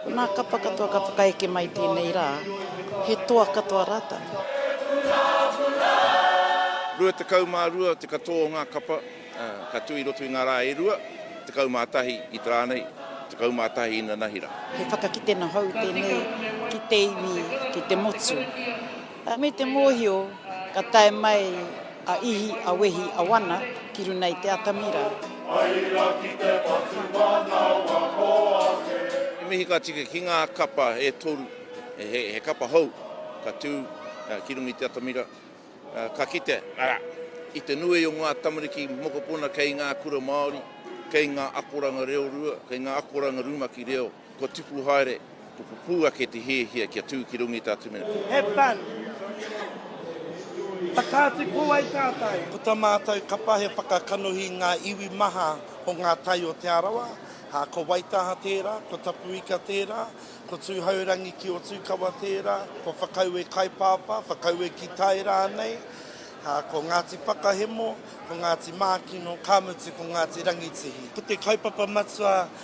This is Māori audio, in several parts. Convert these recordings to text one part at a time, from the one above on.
Ko nā kapa katoa ka whakaeke mai i tēnei rā, he toa katoa rātou. 22 te katoa o ngā kapa ka tū i roto i ngā rā e rua, 11 i te rā nei, 11 inanahi rā. He whakakitenga hou tēnei ki te iwi, ki te motu. Me te mōhio ka tae mai a Ihi, a Wehi, a Wana ki runa i te atamira. Hai ra ki te patu manawa o ake. He mihi ka tika ki ngā kapa e toru, he kapa hou ka tū ki runga i te atamira, ka kite, arā, i te nui o ngā tamariki mokopuna kei ngā kura Māori, kei ngā akoranga reo rua, kei ngā akoranga rumaki reo. Kua tupu haere, kua pupū ake te hiahia kia tū ki runga i tā Tumenepo. Have fun! Whakaatu pō ai tātou! Ko tā mātou kapa he whakakanohi i ngā iwi maha o ngā tai o Te Arawa, ā, ko Waitaha tērā, ko Tapuika tērā, ko Tūhourangi ki Otūkawa tērā, ko Whakaue Kaipāpā, Whakaue ki Tai rānei, ā, ko Ngāti Whakahemo, ko Ngāti Mākino, ka mutu ko Ngāti Rangitihi. Ko te kaupapa matua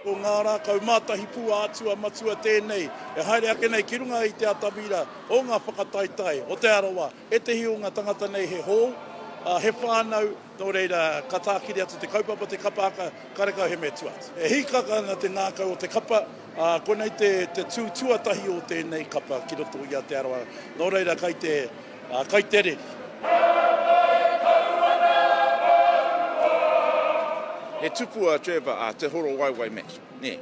Ko ngā rā kaumātahi pū ā-atua matua tēnei e haere ake nei ki runga i te atamira o ngā whakataetae o Te Arawa. Ētehi o ngā tangata nei he hou, ā, he whānau, nō reira, ka tākiri atu te kaupapa, te kapa haka, karekau he mea tua atu. E hīkaka ana te ngākau o te kapa, ā, konei te tū tuatahi o tēnei kapa ki roto i a Te Arawa, nō reira, kai te. Ā, kai te reri. He tupu a Trevor, a Te Horowaewae Matt, nē?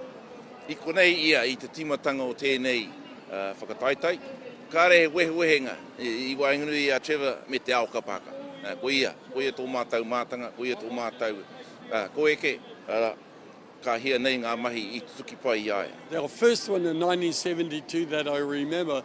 I konei ia i te tīmatanga o tēnei whakataetae. Kāre he wehewehenga i waenganui i a Trevor me te ao kapa haka. Ko ia, ko ia tō mātou mātanga, ko ia tō mātou koeke, arā, ka hia nei ngā mahi i tutuki pai i a ia. The first one in 1972 that I remember.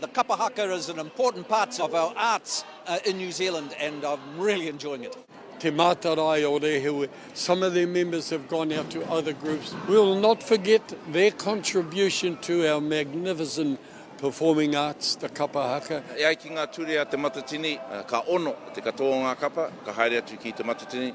The kapa haka is an important part of our arts in New Zealand and I'm really enjoying it. Te Mātarae o Rehewe, some of their members have gone out to other groups. We will not forget their contribution to our magnificent performing arts, the kapa haka. E ai ki ngā ture a Te Matatini, ka ono te katoa o ngā kapa ka haere atu ki Te Matatini.